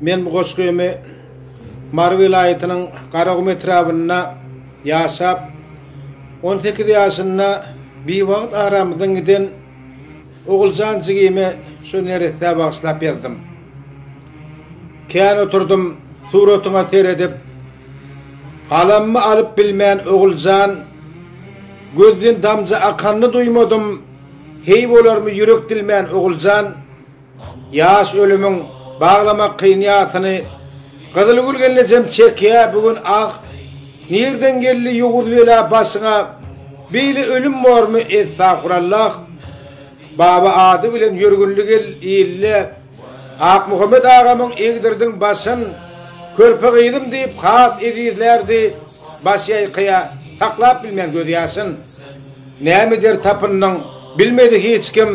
Men bu goşgymy Mary welaýatynyň Garagum etrabynda ýaşap, on sekiz ýaşynda biwagt aramyzdan giden Oguljan jigime şu neressä bagyşlap ýazdym. Kän oturdym suratyňa seredip, galamymy alyp bilmän Oguljan, gözden damja akanyny duýmadym, heý bolarmy ýürek dilmän Oguljan, Ýaş ölümiň baglamak kyn ýasyny Gyzylgül gelnejem çekýä bu gün ah Nirden geldi ýowuz bela başyňa Beýle ölüm bormy estagfurallah Baba ady bilen ýörgünli gel ille Akmuhammet agamyň egdirdiň başyn Körpe gyzym diýip has ezizlärdi Baş ýaýkaýa saklap bilmän gözýaşyn. Näme der tapyndyň, bilmedi hiç kim.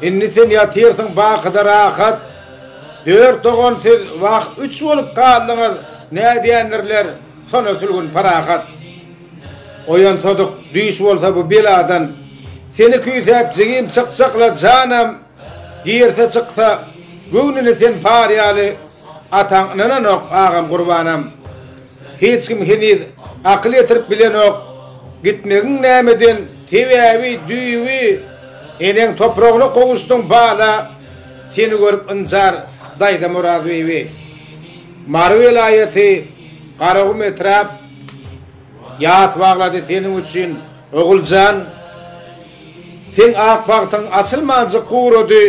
Indi sen ýatyrsyň bakyda rahat. Dört dogan siz wah üç bolup galdyňyz, nädýändirler, sona sülgün parahat. Oýansadyk düýş bolsa bu beladan. Seni küýsäp jigim çykjakla janam, girse çyksa göwnüni sen par ýaly, ataň ynananok agam gurbanam. Hiç kim heniz akyl ýetirip bilenok, gitmegiň nämeden sebäbi düýbi eneň topragyna gowuşdyň bala seni görüp ynjar daýza Murat bibi Mary welaýaty Garagum etrap ýas baglady seniň üçin Oguljan seň ak bagtyň açylmanjyk gurady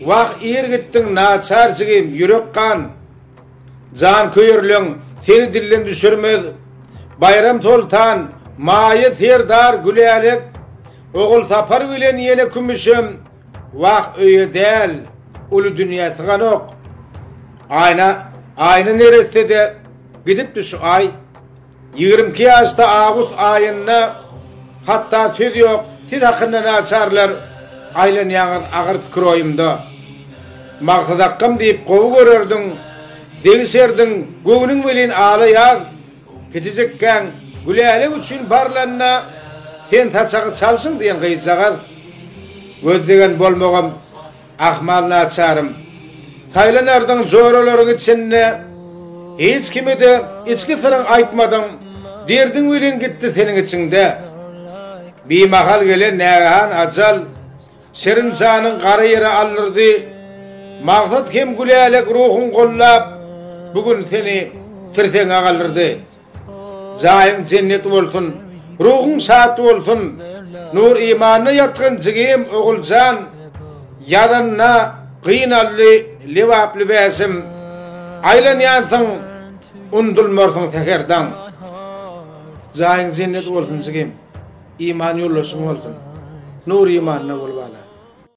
wah ir gitdiň naçar jigim ýürek gan Janköýerleň seni dilden düşürmez. Baýram Soltan, Maýa serdar, Gülälek, Ogulsapar bilen ýene Kümüşem wah öýe däl, uly dünýä syganok. Aýna, Aýna neresse-de gidipdi şu aý. Ýigrimi iki ýaşda awgust aýynda hatda söz ýok siz hakynda naçarlar aýlanýaňyz agyr pikir oýumda Maksat akgam diýip gowy görerdiň degişerdiň göwnüň welin ala ýaz kiçijikkäň Gülälek üçin barlanda sen saçagy çalşyň diýen gyzjagaz göz degen bolmagam Ahmal naçarym, saýlanardyň joralaryň içinde, Hiç kime-de içki syryň aýtmadyň, Derdiň welin gitdi seniň içiňde. Bimahal gelen nägehan ajal, Şirin janyň gara ýere aldyrdy. Magsat hem gülälek ruhuň gollap, Bu gün seni tirseňe galdyrdy. Jaýyň jennet bolsun. Ruhuň şat bolsun. Nur imanyna ýatgyn jigim Oguljan ýazanyna gynaldy Lebaply wäşim Aýlanýansyň undulmarsyň säher daň. Jaýyň jennet bolsun jigim. Iman ýoldaşyň bolsun. Nur imanyna bol bala.